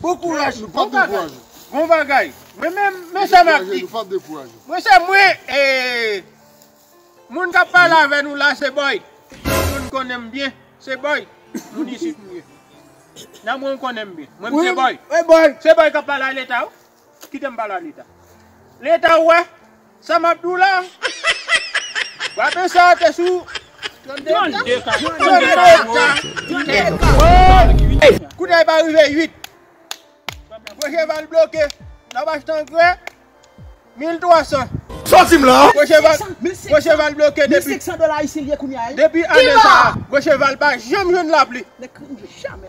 Bon kouraj nou pap dekouraje. Bon bagay mwen menm men sa map di mwen se mwen moun kap pale avè nou la se boy si moun konnenm byen se boy moun isit mwen ye nan moun konnenm byen mwen se boy se boy kap pale a leta wi. Kitem pale a leta. Leta ou wè sa map di w la. Wapen sa te sou 32 ka. 32 ka. Kout la e pa rive 8. Gwo cheval bloke nan bach t angrè 1300. Sòti m la. Gwo cheval bloke depi ane sa. Gwo cheval pa janm jwenn lapli.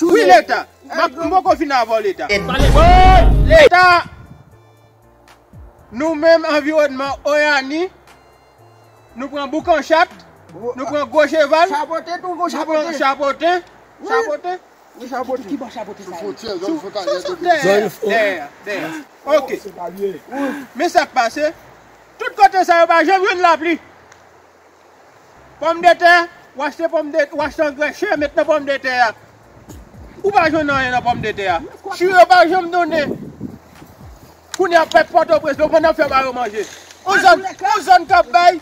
Wi leta. M poko fini avèw leta. Leta Nou menm anviwònman oyani Nou pran boukan chat Nou pran gwo cheval Nou pran chapote Kibò chapote sa ye Sou dèyè Ok Men sak pase Tout kote sa yo pa janm jwenn lapli Pòmdetè, w achte pòmdetè, w achte angrè chè met nan pòmdetè a, ou pa jwenn anyen nan pòmdetè a. Chou yo pa janm donnen. Kounye a pèp Pòtoprens, nou konn n ap fè ba yo manje. Yon zòn, yon zòn k ap bay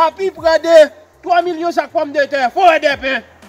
apiprè de 3 milyon sak pòmdetè, Forèdèpen.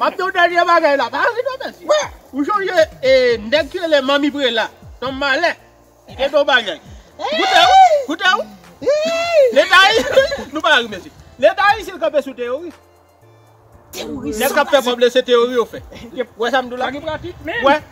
Map diw dènye bagay la, pa ri non mèsi. Ou sonje nèg ki rele manmi prela, son malè li te gen yon bagay. Koute w, koute w. Leta ayisyen, nou pa ri mèsi. Leta ayisyen kanpe sou teyoris. Nèg kap fè kòb se teori yo fè. Wè sam diw la? Sa gen pratik menm.